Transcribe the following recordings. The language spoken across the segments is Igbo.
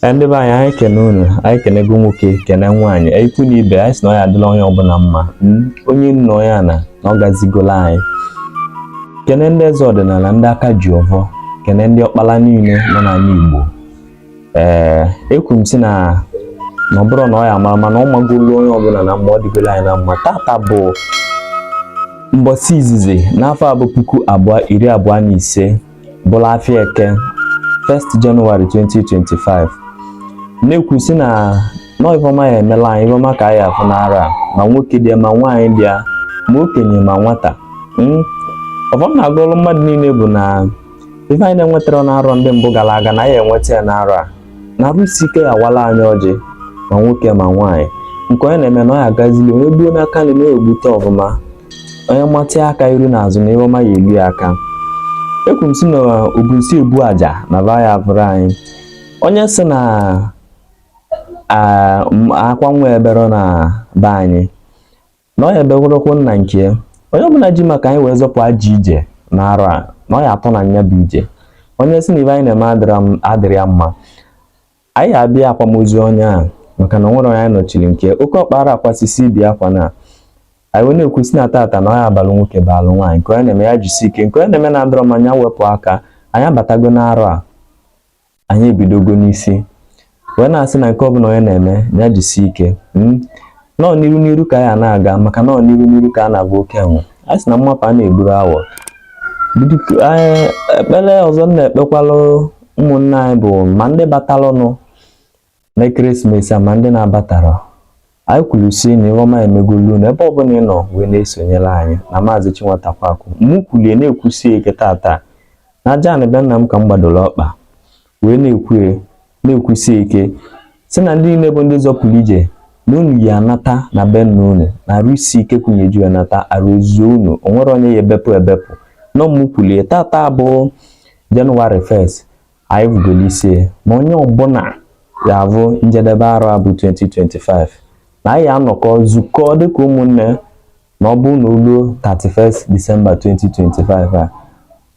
Ee, ndị be anyị anyị kene unu anyị kenego nwoke kene nwaanyị ikwu na ibe anyị sị na ọ ya adịla onye ọbụla mma Mm, onye nna onye ana na ọ gazigola anyị kene ndị eze ọdịnala ndị aka ji ọvọ kene ndị ọkpala niile nọ n'ala Igbo ee ekwu m sị na na ọ bụrụ na ọ ya mara mma na ọ magolo onye ọbụla na mma ọ dịgolo anyị na mma tata bụ mbọsị izizi n'afọ a bụ puku abụọ iri abụọ na ise bụrụ afịa eke 1st Jenụwarị 2025 na-ekwu sị na nọ ife ọma ya emela anyị ife ọma ka anyị ya afụ n'arọ a ma nwoke dị ya ma nwaanyị dị ya ma okenye ma nwata hmm? ọfọ m na-agọlụ mmadụ niile bụ na ife anyị na-enwetarọ n'arọ ndị mbụ gara aga na anyị enweta ya n'arọ a na arụ isi ike awala anyị ọjị ma nwoke ma nwaanyị nke onye na-eme na ọ ya agazili onye gbuo n'aka nri na-egbute ọfụma onye matịa aka iru na azụ na ihe ọma ya elu ya aka ekwu m sị na obu nsi ebu aja na va ya avụrọ anyị onye sị na ah, m- akwa nwa eberọ na be anyị na ọ ya eberọkwu na nke ya. onye ọbụla ji maka anyị wee zọpụ ajọ ije na arọ a na ọ ya atọ na nya bụ ije onye sị na ive anyị na-eme adịrọ m- adịrọ ya mma anyị ya abịa akwamozu onye a maka na o nwerọ onye anyị nọchiri nke oke ọkpa ara akwasisi ibi akwa na anyị wee na-ekwu sị na tata na ọ ya abalụ nwoke balụ nwaanyị nke onye na-eme ya jisi ike nke onye na-eme na adịrọ mma nya wepụ aka anyị abatago n'arọ a anyị ebidogo n'isi wee na-asị na nke ọbụla onye na-eme ya jisi ike hmm? nọọ n'iru n'iru ka ya na-aga maka nọọ n'iru n'iru ka a na-agba oke enwe a sị na mmapụ a na-egburọ awọ ekpere ọzọ m na-ekpekwalụ ụmụnne anyị bụ ma ndị batalụnụ na ekeresimesi a ma ndị na-abatarọ anyị kwuru sị na ihe ọma emegolu na ebe ọbụla ị nọ wee na-esonyere anyị na maazị Chinwata Kwaku mụ kwulie na-ekwusi ike tata na aja anị be nna m ka m gbadoro ọkpa wee na-ekwu na-ekwusi ike sị na ndị niile bụ ndị zọpụrụ ije na unu ya anata na be nna unu na arụ isi ike kwunyeju ya nata arụ ezuo unu o nwerọ onye ya ebepụ ebepụ nọ m kwulie tata bụ Jenụwarị 1st anyị vụgolo isi ya na onye ọbụla ya avụ njedebe arọ a bụ 2025 na anyị ya anọkọ zukọ dịka ụmụnne na ọ bụ na o luo 31st Disemba 2025 a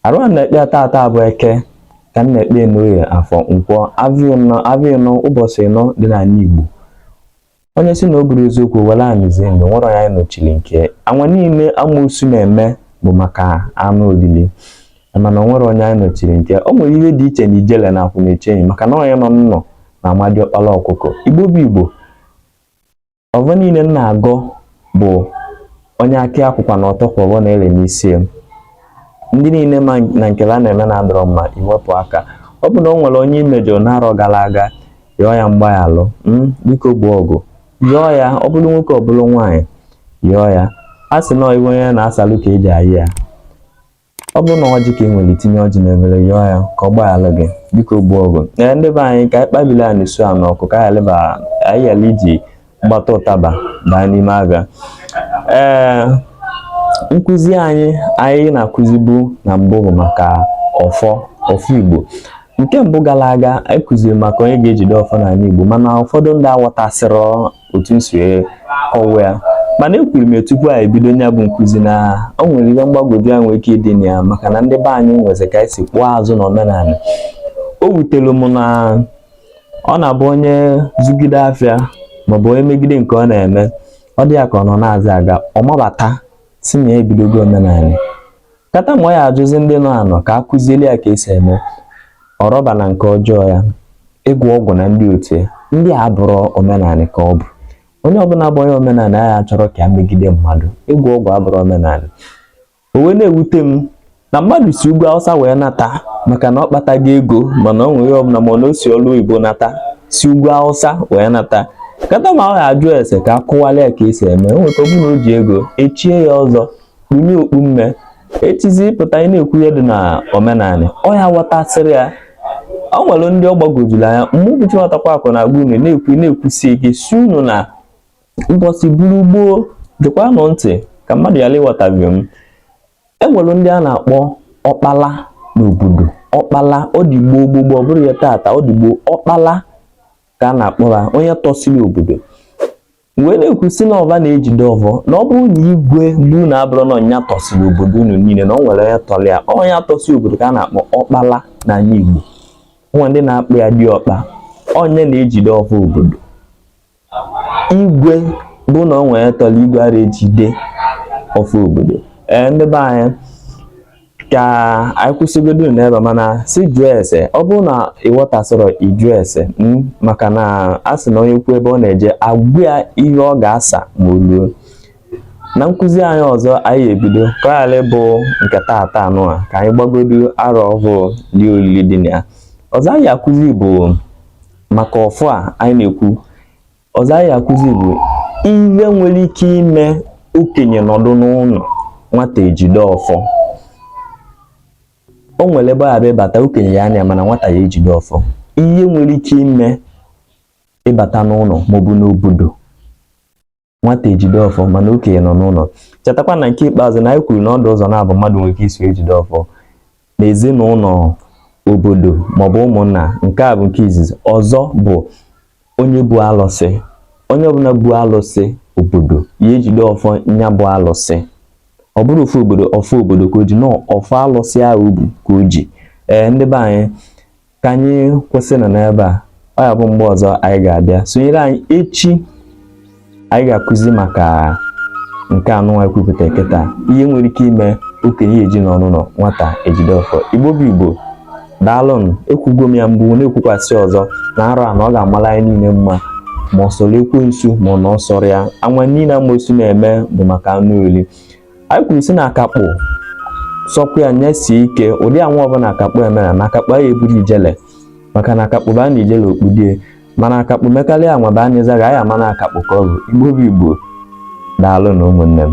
arụ a na-ekpe tata bụ eke ka m na-ekpe n'oye afọ nkwọ avịa ịnọ ụbọsị ịnọ dị n'anị Igbo onye sị na ọ bụrọ eziokwu were anyị zie ndụ o nwerọ onye anyị nọchiri nke anwa niile amoosu na-eme bụ maka anụ olili mana o nwerọ onye anyị nọchiri nke o nwere ihe dị iche na ijele na akwụnechenyi maka na onye nọ n'ụnọ na-ama diọkpala ọkụkọ igbo bụ igbo ọvọ niile m na-agọ bụ onye akị akwụkwa na ọtọ kwụrụ na ele n'isi ya ndị niile ma na nkele a na-eme na-adọrọ mma iwepụ aka ọ bụ na o nwere onye i mejọ n'arọ gara aga yọọ ya mgbaghalụ mm, biko gbuo ọgụ yọọ ya ọ bụrụ nwoke ọ bụrụ nwaanyị yọọ ya a sị na iwe onye na-asalụ ka eji ayị ya ọ bụrụ na ọjị ka ị nwere tinye ọjị n'efere yọọ ya ka ọ gbaghalụ gị dịka ogbu ọgụ ndị be anyị ka anyị kpabiri a na-esu a n'ọkụ ka anyị ghara iji mgbata ụtaba baa n'ime afịa ee nkụzi anyị anyị na-akụzibu na mbụ bụ maka ọfọ ọfọ igbo nke mbụ gara aga anyị kụziri maka onye ga-ejide ọfọ n'ala igbo mana ụfọdụ ndị aghọtasịrọ otu m si kọwa ya mana ekwuru m tupu anyị bido nya bụ nkụzi na o nwere ihe mgbagwoju anya nwere ike ịdị na ya maka na ndị be anyị nwezi ka anyị si kpụọ azụ na omenala o wutere m na ọ na-abụ onye zugide afịa maọbụ onye megide nke ọ na-eme ọ dị ya ka ọ nọ na-azị aga ọ mabata sị na ya ebidogo omenala Kata ma ọ ya-ajụzi ndị nọ anọ ka a kụziele ya ka esi eme ọrọba na nke ọjọọ ya ịgwọ ọgwụ na ndị otu ya ndị a bụrụ omenala ka ọ bụ onye ọbụla bụ onye omenala ya chọrọ ka ya megide mmadụ ịgwọ ọgwụ abụrụ omenala o wee na-ewute m na mmadụ si ugwu awụsa wee nata maka na ọ kpatago ego mana o nwere ihe ọbụla ma na o si ọrụ oyibo nata si ugwu awụsa wee nata kata ma ọ ga-ajụ ese ka a kọwala ya ka esi eme o nweta ọ bụrụ na o ji ego e chie ya ọzọ kpunye okpu mme echizi pụta ị na-ekwu ihe dị na omenala ọ ya ghọtasịrị ya o nwere ndị ọ gbagwojuru anya mgbe m bụ Chinwatakweakụ na-agwa unu na-ekwu na-ekwusi ike sị unu na ụbọsị buru gboo gekwa nụ ntị ka mmadụ ghara ịghọtahie m e nwere ndị a na-akpọ ọkpala n'obodo ọkpala ọ dị gboo gboo gboo ọ bụrọ ihe tata ọ dị gboo ọkpala ka a na-akpọ ha onye tọsiri obodo wee na-ekwu sị na ọ va na-ejide ọvọ na ọ bụrụ na igwe be unu abụrọ na ọ nya tọsịrị obodo unu niile na o nwere onye tọrọ ya onye tọsị obodo ka a na-akpọ ọkpala n'ala Igbo o nwe ndị na-akpọ ya diọkpa onye na-ejide ọfọ obodo igwe bụ na o nwere onye tọrọ igwe ara ejide ọfọ obodo ee ndị be anyị ka anyị kwụsịgodo n'ebe a mana sị jụọ ese ọ bụrụ na ị ghọtasịrọ ị jụọ ese hmm, maka na a sị na onye kwuo ebe ọ na-eje a gwa ya ihe ọ ga-asa ma o ruo na nkụzi anyị ọzọ anyị ebido ka ọ ghara ịbụ nke taata nụ a ka anyị gbagodo arọ ọhụụ lie olili dị na ya ọzọ anyị akụzi bụ maka ọfọ a anyị na-ekwu ọzọ anyị akụzi bụ ihe nwere ike ime okenye nọdụ n'ụlọ nwata ejide ọfọ o nwere ebe a ya abata okenye ya anọ mana nwata ya ejide ọfọ ihe nwere ike ime ị bata n'ụlọ maọbụ n'obodo nwata ejide ọfọ mana okenye nọ n'ụlọ chetakwa na nke ikpeazụ na anyị kwuru na ọ dị ụzọ naabọ mmadụ nwere ike isi jide ọfọ n'ezinụlọ obodo maọbụ ụmụnna nke a bụ nke izizi ọzọ bụ onye bu alụsị onye ọbụla bu alụsị obodo ya ejide ọfọ ya bụ alụsị ọ bụrọ ọfọ obodo ọfọ obodo ka o ji na ọ ọfọ alụsị ahụ o bu ka o ji ee ndị be anyị ka anyị kwụsịnụ n'ebe a ọ ya abụ mgbe ọzọ anyị ga-abịa sonyere anyị echi anyị ga-akụzi maka nke anụnwa ekwupụta kịta ihe nwere ike ime okenye eji nọ n'ụnọ nwata ejide ọfọ igbo bụ igbo daalụnụ ekwugo m ya mbụ na-ekwukwasị ọzọ na arọ a na ọ ga-amala anyị niile mma ma ọ sọrọ ekwensu ma ọ na ọ sọrọ ya anwa niile amosu na-eme bụ maka anụ oli anyị kwuru sị na akakpụ sọkwa ya nyesie ike ụdị anwa ọbụla akakpụ emere na akakpụ aya eburu ijele maka na akakpụ baa na ijele o kpudie mana akakpụ mekarịa anwa baa na izaga a ya ama na akakpụ ka ọ bụ igbo bụ igbo daalụ na ụmụnne m